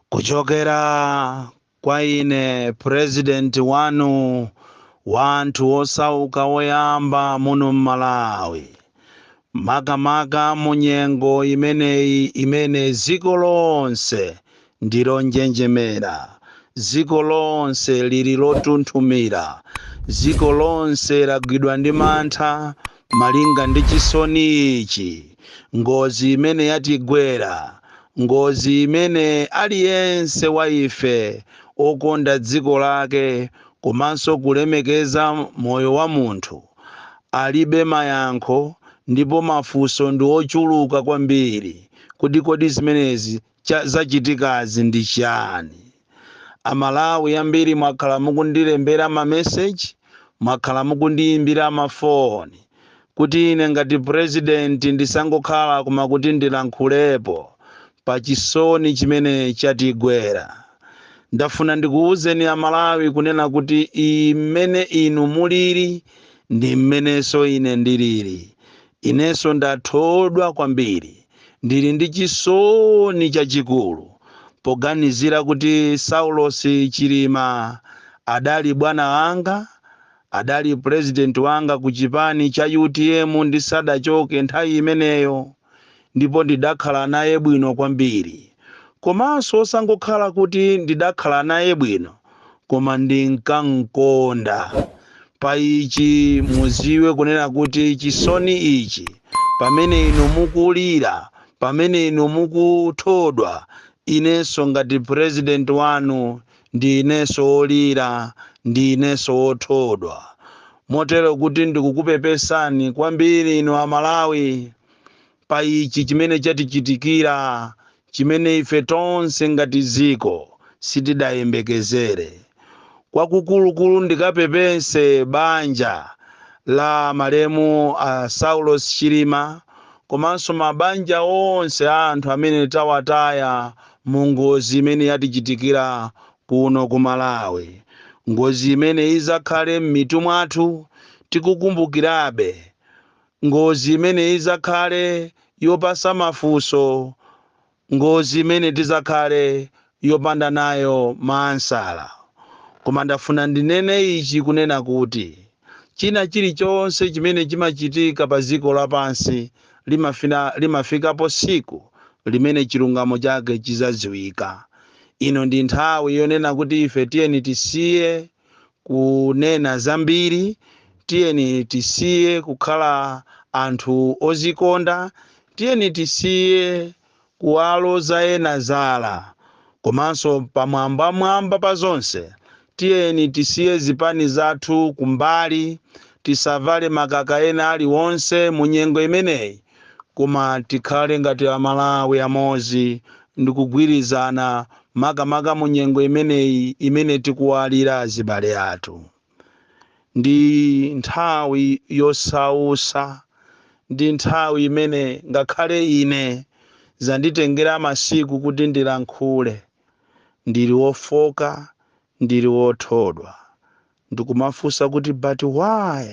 kuchokera kwa ine president wanu wa anthu osauka woyamba muno m'malawi makamaka mu nyengo imeneyi imene dziko lonse ndi lonjenjemera dziko lonse lili lotunthumira dziko lonse lagwidwa ndi mantha Malinga ndi chisoni ichi, ngozi imene yatigwera, ngozi imene aliyense wa ife okonda dziko lake komanso kulemekeza moyo wa munthu, alibe mayankho ndipo mafunso ndi ochuluka kwambiri kuti kodi zimenezi zachitikazi ndi chani? A Malawi ambiri mwakhala mukundilembera ma message, mwakhala mukundiyimbira ma phone kuti ine ngati president ndisangokhala koma kuti ndilankhulepo pa chisoni chimene chatigwera. Ndafuna ndikuwuzeni a Malawi kunena kuti mmene inu muliri ndi mmenenso ine ndiliri. Inenso ndathodwa kwambiri. Ndili ndi chisoni chachikulu poganizira kuti Saulosi Chilima adali bwana wanga, adali pulezidenti wanga ku chipani cha utm ndisadachoke nthawi imeneyo ndipo ndidakhala naye bwino kwambiri. Komanso osangokhala kuti ndidakhala naye bwino koma ndinkankonda. Pa ichi muziwe kunena kuti chisoni ichi, pamene inu mukulira, pamene inu mukuthodwa, inenso ngati president wanu ndi inenso wolira, ndi inenso wothodwa. Motero kuti ndikukupepesani kwambiri inu a Malawi, pa ichi chimene chatichitikira, chimene ife tonse ngati dziko sitidayembekezere. Kwakukulukulu ndikapepese banja la malemu a Saulos Chilima komanso mabanja onse a anthu amene tawataya mu ngozi imene yatichitikira kuno ku Malawi. Ngozi imene idzakhale m'mitu mwathu tikukumbukirabe Ngozi imene idzakhale yopasa mafunso ngozi imene tidzakhale opanda nayo ma ansala. Koma ndafuna ndinene ichi kunena kuti china chilichonse chimene chimachitika pa dziko lapansi limafikapo tsiku limene chilungamo chake chidzadziwika. Ino ndi nthawi yonena kuti ife tiyeni tisiye. kunena zambiri. Tiyeni tisiye kukhala anthu ozikonda. Tiyeni tisiye kuwaloza ena zala. Komanso pamwambamwamba pa zonse, tiyeni tisiye zipani zathu kumbali. Tisavale makaka ena aliwonse mu nyengo imeneyi. koma tikhale ngati a Malawi amodzi ndikugwirizana makamaka mu nyengo imeneyi imene tikuwalira azibale athu. Ndi nthawi yosausa, ndi nthawi imene ngakhale ine zanditengera masiku kuti ndilankhule, ndili wofoka, ndili wothodwa, ndikumafunsa kuti but why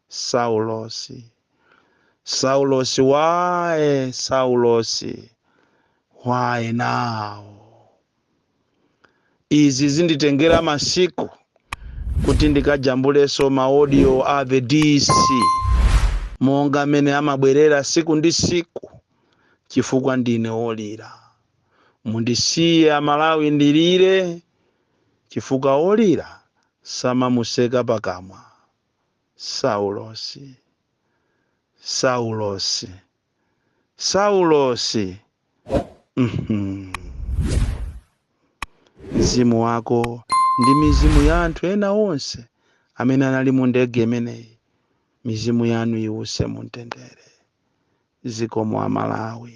Saulosi? Saulosi why Saulosi why now izi zinditengera masiku kuti ndikajambuleso ma audio a the DC monga mmene amabwerera siku ndi siku chifukwa ndine olira mundisiye amalawi ndilire chifukwa olira samamuseka pakamwa Saulosi, Saulosi, Saulosi, mhm, mzimu wako ndi mizimu ya anthu ena onse amene anali mu ndege imeneyi, mizimu yanu iwuse mu mtendere. Zikomo Amalawi.